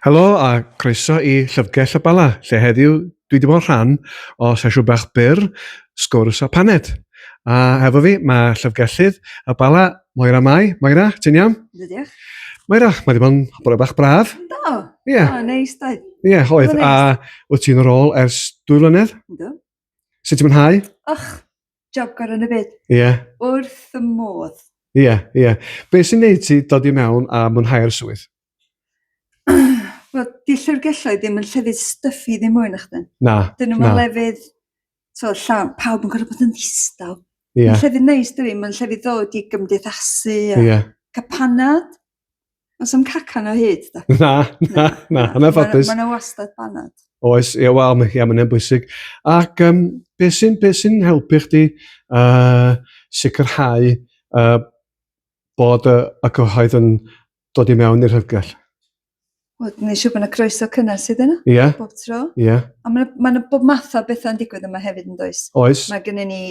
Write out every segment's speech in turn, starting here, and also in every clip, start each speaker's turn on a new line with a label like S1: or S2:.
S1: Helo a croeso i Llyfrgell y Bala, lle heddiw dwi wedi bod yn rhan o sesiwn bach byr, sgwrs a paned. A hefo fi, mae Llyfrgellydd y Bala, Moira Mai. Moira, ti'n iawn? Yndw, diolch.
S2: Moira, mae wedi
S1: bod yn bore bach braf. Do, Ie. yeah. oh,
S2: neis
S1: doedd.
S2: Ie, yeah, oedd.
S1: Oedd o'n A wyt ti'n rôl ers dwy flynedd? Yndw.
S2: Sut ti'n mwynhau?
S1: Och,
S2: job gorau yn y byd. Ie. Yeah. Wrth
S1: y
S2: modd. Ie, yeah, ie. Yeah.
S1: Be sy'n neud ti dod i mewn a mwynhau'r swydd?
S2: Wel, di llyfrgelloedd ddim yn llefydd styffu ddim mwy na chdi. Na, Dyn nhw'n na.
S1: lefydd,
S2: so, llawn, pawb yn gorfod bod yn ddistaw. Ie. Yeah. Llefydd
S1: neis dwi,
S2: mae'n llefydd ddod i gymdeithasu a yeah. capanad. Os am cacan o hyd, da? Na, na, na,
S1: yn anffodus. Mae'n yna wastad banad.
S2: Oes, ie, wel, mae
S1: yeah, mae'n bwysig. Ac um, beth sy'n be sy helpu chdi uh, sicrhau uh, bod y, y cyhoedd yn dod i mewn i'r hygell? Wel,
S2: ni'n siŵr bod yna groeso cynnes iddyn nhw. Ie. Yeah. Bob tro. Ie.
S1: Yeah.
S2: A mae
S1: yna ma bob
S2: math o bethau'n digwydd yma hefyd yn does? Oes. Mae gennym ni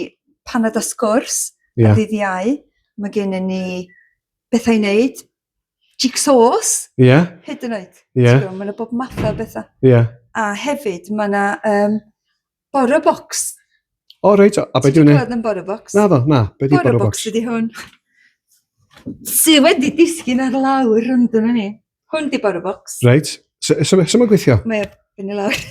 S2: paned a sgwrs yeah. ddydd iau. Mae gennym ni bethau i wneud. Jigsaws. Ie. Yeah.
S1: Hyd yn oed.
S2: Ie. Yeah. Mae yna bob math
S1: o
S2: bethau. Ie. Yeah. A
S1: hefyd
S2: mae yna um, Boro box. O, reit,
S1: a beth yw'n... Ti'n gwybod yn boro box? Na ddo,
S2: na, beth yw'n boro
S1: box? Boro box ydi hwn.
S2: Sy wedi disgyn ar lawr yn dyna ni. Hwn di boro box. Reit,
S1: sy'n mynd gweithio? Mae yn y lawr.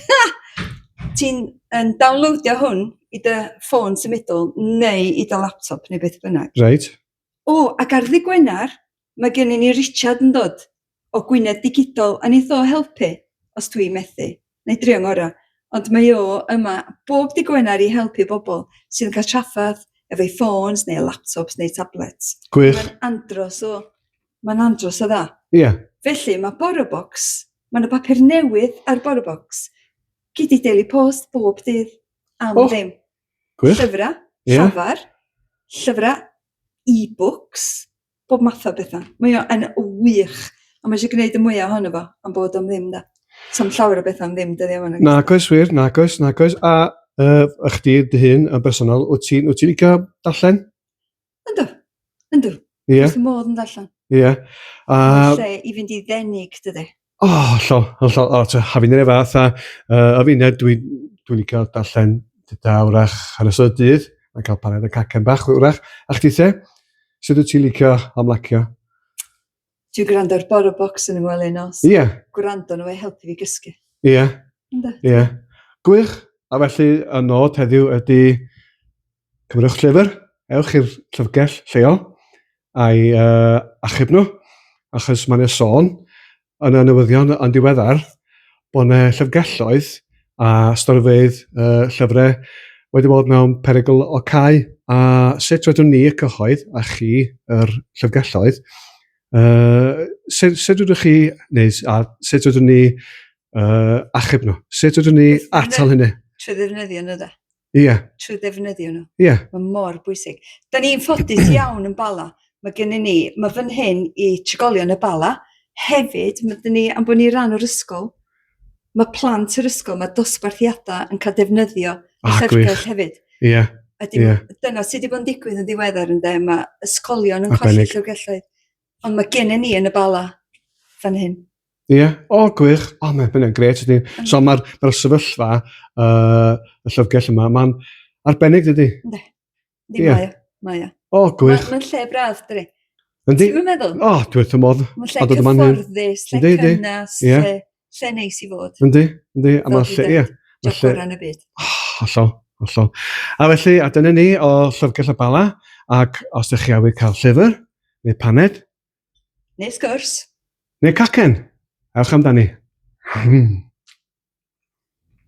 S2: Ti'n um, downloadio hwn i dy ffôn symudol neu i dy laptop neu beth bynnag. Reit. O,
S1: ac ar
S2: ddi Gwener, Mae gennyn ni Richard yn dod o Gwynedd Digidol a neith o helpu os dwi methu. Na'i drio 'ngora. Ond mae o yma bob dydd Gwener i helpu bobl sydd yn cael trafferth efo'u ffôns neu laptops neu tablets. Gwych. Mae'n andros
S1: o...
S2: Mae'n andros o dda. Ie. Felly,
S1: mae
S2: BoroBox, mae 'na bapur newydd ar BoroBox. Gei di Daily Post bob dydd am oh. ddim. Gwych. Llyfrau,
S1: yeah.
S2: llafar, llyfrau e-books, bob math o betha. Mae o yn wych. A mae eisiau gwneud y mwyaf ohono fo, am bod o'n ddim, da. So'n llawer o bethau am ddim, dyddi yma. Na, coes wir, na, coes,
S1: na, coes. A uh, ych di, dy hun, yn bersonol, wyt ti'n wyt ti licio darllen? Ynddo,
S2: ynddo. Ie. Yeah. Dwi'n
S1: modd yn darllen.
S2: Ie. Yeah.
S1: A... Lle
S2: i fynd i ddenig, dydy. O, hollol,
S1: hollol. O, ti'n hafin i'r fath a uh, o fi'n dwi, dwi'n licio darllen dyda wrach ar y sod dydd, a cael paned y cacen bach wrach. A chdi te, sydd wyt ti'n licio amlacio?
S2: Dwi'n gwrando ar Boro Box yn ymwelyn nos. Ie. Yeah. Gwrando nhw
S1: e helpu
S2: fi gysgu. Ie. Yeah.
S1: Ie. Yeah. Gwych. A felly, y nod heddiw ydy Cymrwch llyfr, ewch i'r llyfrgell lleol a'i uh, achub nhw, achos mae'n yna sôn yn y newyddion yn diweddar bod yna llyfrgelloedd a storfeydd uh, llyfrau wedi bod mewn perygl o cael a sut rydyn ni y cyhoedd a chi yr llyfrgelloedd uh, sut, sut rydych chi neu a sut rydyn ni uh, achub nhw sut rydyn ni atal hynny trwy ddefnyddio nhw
S2: da Ie. Trwy
S1: ddefnyddio
S2: nhw. Ie. Mae mor
S1: bwysig.
S2: Da ni'n ffodus iawn yn Bala. Mae gen ni, mae fan hyn i trigolion y Bala. Hefyd, mae dyn ni, am bod ni ran o'r ysgol, mae plant yr ysgol, mae dosbarthiadau yn cael defnyddio ah, llyfrgell hefyd. Ie. Yeah. Ydy,
S1: yeah. Dyna
S2: sydd wedi bod yn digwydd yn ddiweddar yn dde, mae ysgolion yn colli llyfrgelloedd Ond mae gennym ni yn y Bala fan hyn. Ie, yeah. o oh,
S1: gwych, o oh, mae'n bynnag gret ydy. Mm. So mae'r ma sefyllfa, uh, y llyfrgell yma, mae'n arbennig dydy? Ne, ddim yeah.
S2: mae Mae o. O, oh, gwych. Mae'n ma lle
S1: braf, dydy.
S2: Yndi? Ti'n
S1: meddwl? O, oh,
S2: dwi'n wrth y
S1: modd. Mae'n lle
S2: cyfforddus, lle cynnes, lle... Lle neis i fod. Yndi, yndi. A mae
S1: lle, ie. Mae lle... yn y byd.
S2: Oh, hollol, hollol.
S1: A felly, a dyna ni o Llyfrgell y Bala, ac os ydych chi awydd cael llyfr, neu paned. Neu sgwrs. Neu cacen. Ewch
S2: amdani.
S1: Hmm.